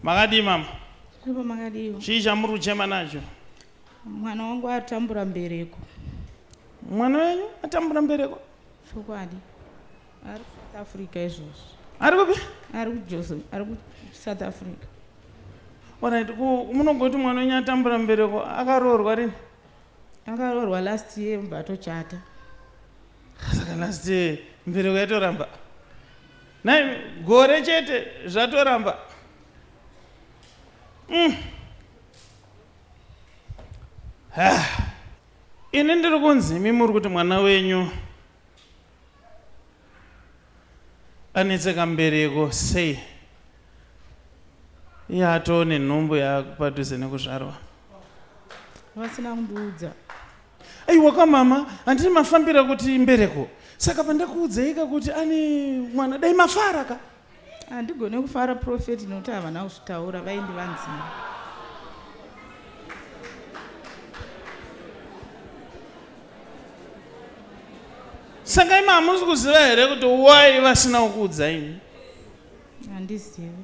Makadii mama? Ndipo makadiwa. Chii chamuri kuchema nacho? Mwana wangu atambura mbereko. Mwana wenyu atambura mbereko? Chokwadi. Ari kuSouth Africa izvozvi. Ari kupi? Ari kuJozo, ari kuSouth Africa. Alright, ku- munogoti mwana wenyu atambura mbereko akaroorwa rini? Akaroorwa last year mubva atochata. Saka last year mbereko yatoramba. Nai gore chete zvatoramba. Mm. Ah. Ini ndiri kunzi imi muri kuti mwana wenyu anetseka mbereko sei iye atoo nenhumbu yaakupadhuze nekuzvarwa. Vasina kundiudza. Aiwa ka mama, handiti mafambira kuti mbereko. Saka pandakuudzaika kuti ane mwana dai mafara ka. Handigone kufara prophet nokuti havana kuzvitaura vaindi vanzima. Saka imi hamusi kuziva here kuti why vasina kukuudzaini? Handizivi.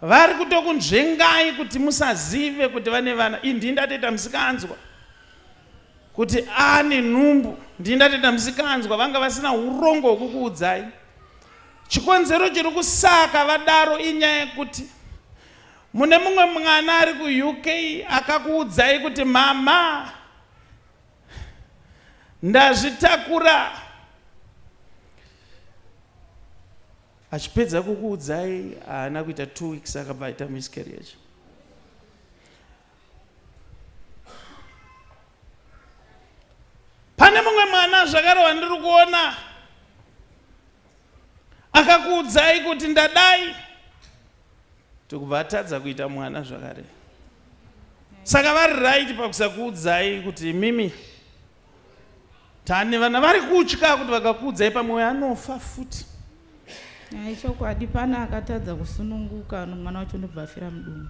Vari kutokunzvengai kuti musazive kuti vane vana. Ii ndii ndatoita musikanzwa kuti ane nhumbu. Ndii ndatoita musikanzwa vanga vasina urongo hwekukuudzai. Chikonzero chiri kusaka vadaro inyaya yekuti mune mumwe mwana ari kuUK akakuudzai kuti mama ndazvitakura. achipedza kukuudzai haana kuita two weeks akabva aita miscarriage pane mumwe mwana zvakare wandiri kuona akakuudzai kuti ndadai tokubva atadza kuita mwana zvakare saka vari right pakusakuudzai kuti mimi Tane vana vari kutya kuti vakakuudzai pamwe uyo anofa futi. Ai chokwadi pana akatadza kusununguka mwana wacho ndobva afira mudumbu.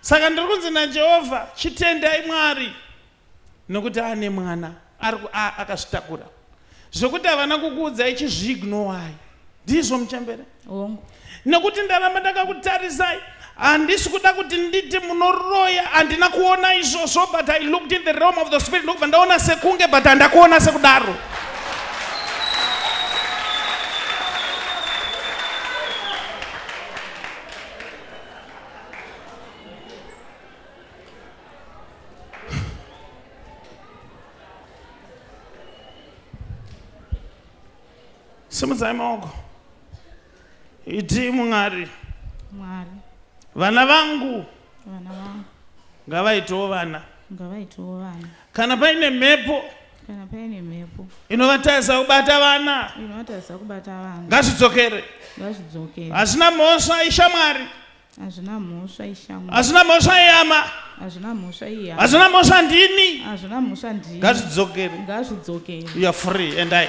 Saka ndiri kunzi naJehovha chitendai Mwari nokuti ane mwana. Ari ku a akazvitakura zvekuti havana kukuudzai chizviignowai ndizvo muchembere hongu nekuti ndaramba ndakakutarisai handisi kuda kuti nditi munoroya handina kuona izvozvo but i looked in the realm of the spirit ndokubva ndaona sekunge but handakuona sekudaro simudzai maoko iti mwari mwari vana vangu vana vangu ngavaitewo vana ngavaitewo vana kana paine mhepo kana paine mhepo inovatarisa kubata vana inovatarisa kubata vana ngazvidzokere ngazvidzokere hazvina mhosva ishamwari Hazvina mhosva ishamwari. Hazvina mhosva iyama. Hazvina mhosva iya. Hazvina mhosva ndini. Hazvina mhosva ndini. Ngazvidzokere. Ngazvidzokere. You are free and I.